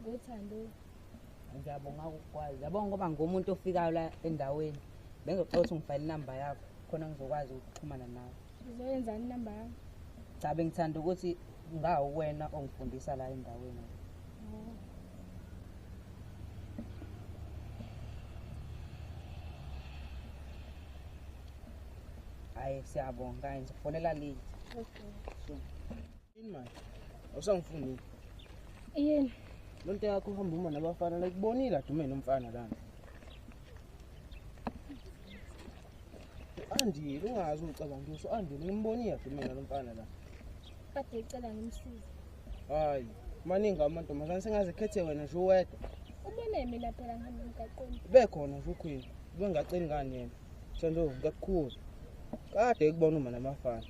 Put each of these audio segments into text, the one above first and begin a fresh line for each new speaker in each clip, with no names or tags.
Ngothando. Ngiyabonga ukukwazi. Yabonga ngoba ngomuntu ofikayo la endaweni. Bengizocela ukuthi ngifayile inamba yakho khona ngizokwazi ukuxhumana nawe. Uzoyenzani inamba
yakho? Cha bengithanda
ukuthi ngawu wena ongifundisa la endaweni. Oh. Hayi siyabonga nje. Fonela late. Okay. Sure.
Yini
manje? Awusangifuni.
Yini? Lonto
yakho uhamba uma nabafana la kubonile adumene umfana lana. Andile ungazi ucabanga ukuthi andile ngimbonile adumene lomfana la. Kade icela
ngimsize. Hayi,
maningi amantombazane sengaze khethe wena nje uwedwa. Ubone mina
phela ngihamba emgaqweni. Bekhona nje ukhwini.
Ubengaceli ngani yena? Shandu ngakukhuza. Kade ekubona uma namafana.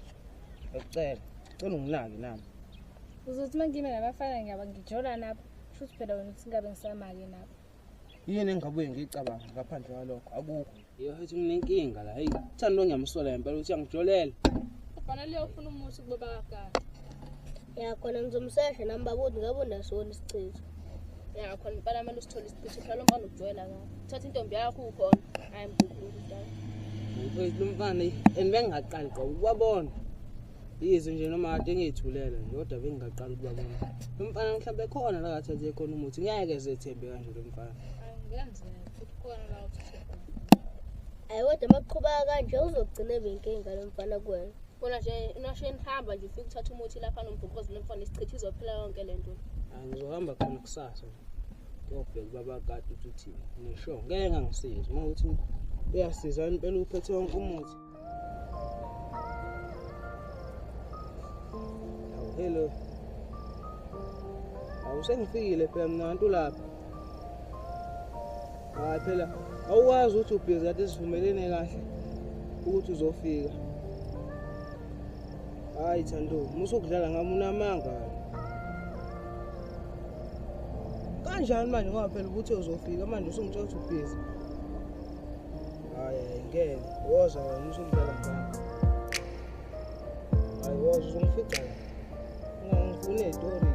Ngicela, cela unginaki nami. Uzothi
mangime namafana ngiyaba ngijola napho. Futhi phela wena uthi ngabe ngisamake napho. Yini engabuye
ngicabanga ngaphandle kwalokho akukho. Yo hethi nginenkinga la. Hey, thando ngiyamsola impela uthi angijolela. Kufanele
uyofuna umuthi kubaba kaGada. ya
khona ngizomsesha nami babodi ngabe unasona isichitho ya khona
impela kumele usithole isichitho phela lo mfana ukujwayela kabi thatha intombi yakho ukhona hayi mbukhulu dala mfowethu
lomfana and bengingaqali gqa ukubabona yizwe nje noma kade ngiyithulele nje kodwa bengingaqali ukubabona lo mfana mhlawumbe khona la kathi athe khona umuthi ngeke zethembe kanje lo mfana
ayi kodwa uma kuqhubaka kanje uzogcina benkinga lo mfana kuwena Bona nje nasho
enihamba nje ufike uthatha umuthi lapha nombhuqozi lomfana isichitha izophela yonke le nto. Angizohamba
khona kusasa. Ngiyobheka ubaba kade ukuthi uthini. Ngisho ngeke ngangisizi uma uthi uyasiza impela uphethe wonke umuthi. Hello. Awusengifikile phela mna ntu lapha. hayi phela awukwazi ukuthi ubhizi kade sivumelene kahle ukuthi uzofika hayi thando musa ukudlala ngami unamanga kanjani manje ngoba phela ukuthi uzofika manje usungitshela ukuthi ubhizi hayi ngeke woza wena musa ukudlala ngami hayi woza uzongifica ungangifuni ey'tori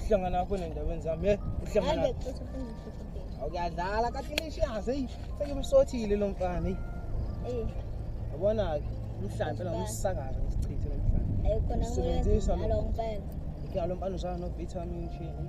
uhlangana wakho
nendaweni zami ye uhlangana
awuyadlala
katilishazi eyi sekimsothile lo mfana eyi eh. yabona-ke umhlampe nomsakaza ngisichithe lo mfana
usebenzisa lo mfana usana
nobithamini shini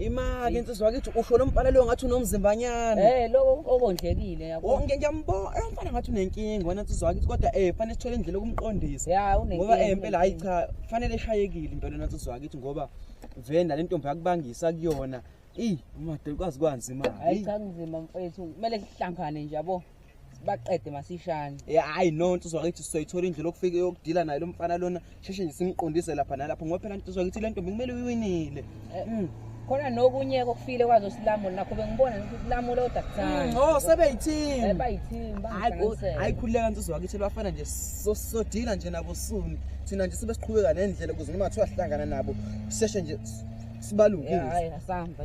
imake insizwa kithi
usho lo mfana leyo ngathi unomzimbanyana Eh lo okondlekile
yabo. Oh, ngiye ngiyambona eh mfana
ngathi unenkinga wena insizwa kithi kodwa eh fanele sithole indlela yokumqondisa Ya unenkinga. ngoba eh impela
hayi cha
fanele eshayekile impela wena insizwa kithi ngoba venda lentombi yakubangisa kuyona ey umadoda kwazi kwanzima Hayi cha kunzima
mfethu. Kumele sihlangane nje yabo. baqede masishane eh, hayi no nsizwa
kithi sizoyithola indlela okufika yokudila naye lo mfana lona sheshe nje simqondise lapha nalapho ngoba phela nsizwa kithi le ntombi kumele uyiwinile eh, mm. khona
nokunye kokufile kwazo silamulo nakho bengibona ukuthi silamulo kodwa kuthanda mm, oh sebeyithini
eh, bayithini
hayi khuleka
nsizwa kithi bafana nje sodila nje nabo soon thina nje sibe siqhubeka nendlela ukuze noma kuthiwa sihlangana nabo seshe nje sibalungise hayi asamba